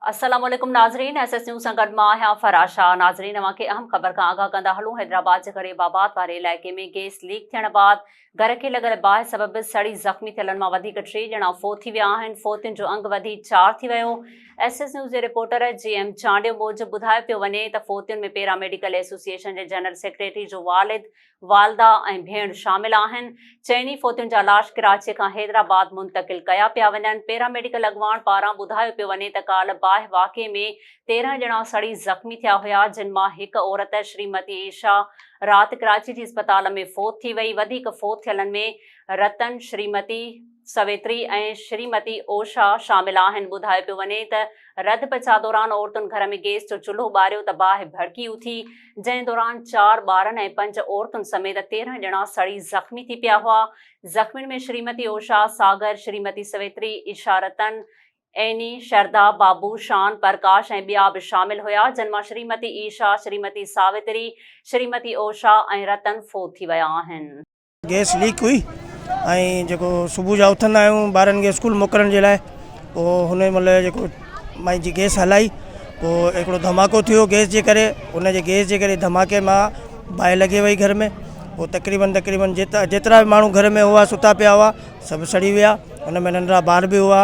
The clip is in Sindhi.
السلام عليڪم ناظرين ايس ايس نيوز سان گڏ مان آهيان فرح شاهه ناظرين اوهان کي اهم خبر کان آگاهه ڪندا هلون حيدرآباد جي غريب آباد واري علائقي ۾ گيس ليڪ ٿيڻ بعد گهر کي لڳل باهه سبب سڙي زخمي ٿيلن مان وڌيڪ ٽي ڄڻا فوت ٿي ويا آهن فوتين جو انگ وڌي چار ٿي ويو ايس ايس نيوز جي رپورٽر جي ايم چانڊيو موجب ٻڌايو پيو وڃي ته فوتين ۾ پيرا ميڊيڪل ايسوسيئيشن جي جنرل سيڪريٽري جو والد والده ۽ ڀيڻ شامل آهن، چئني فوتين جا لاش ڪراچي کان حيدرآباد منتقل ڪيا پيا وڃن، پيراميڊيڪل اڳواڻ پاران ٻڌايو پيو وڃي ته ڪالهه باهه واقعي ۾ تيرهن ڄڻا سڙي زخمي ٿيا هيا، جن مان هڪ عورت شريمتي ايشا رات ڪراچي جي اسپتال ۾ فوت ٿي وئي، وڌيڪ فوت ٿيلن ۾ رتن، شريمتي. سويتري ۽ شريمتي اوشا شامل آهن. ٻڌايو پيو وڃي ته رڌ پچاء دوران عورتن گهر ۾ گيس جو چلهو ٻاريو ته باهه ڀڙڪي اٿي، جنهن دوران چار ٻارن ۽ پنج عورتن سميت تيرهن ڄڻا سڙي زخمي ٿي پيا هئا. زخمين ۾ شريمتي اوشا، ساگر، شريمتي سويتري، ايشا رتن، ايني، شردا، بابو، شان، پرڪاش ۽ ٻيا به شامل هيا، جن مان شريمتي ايشا، شريمتي ساوتري، شريمتي اوشا ۽ رتن فوت ٿي ويا آهن. گئس ليڪ هئي ۽ جيڪو صبح جا اٿندا آهيون ٻارن کي اسڪول موڪلڻ جي لاء پوء هن مهل جيڪو مائي جي گئس هلائي پوء هڪڙو ڌماڪو ٿيو گئس جي ڪري ان جي گئس جي ڪري ڌماڪي مان باهه لڳي وئي گهر ۾ پوء تقريبن تقريبن جيترا جيترا به ماڻهو گهر ۾ هئا ستا پيا هئا سڀ سڙي ويا ان ۾ ننڍڙا ٻار به هئا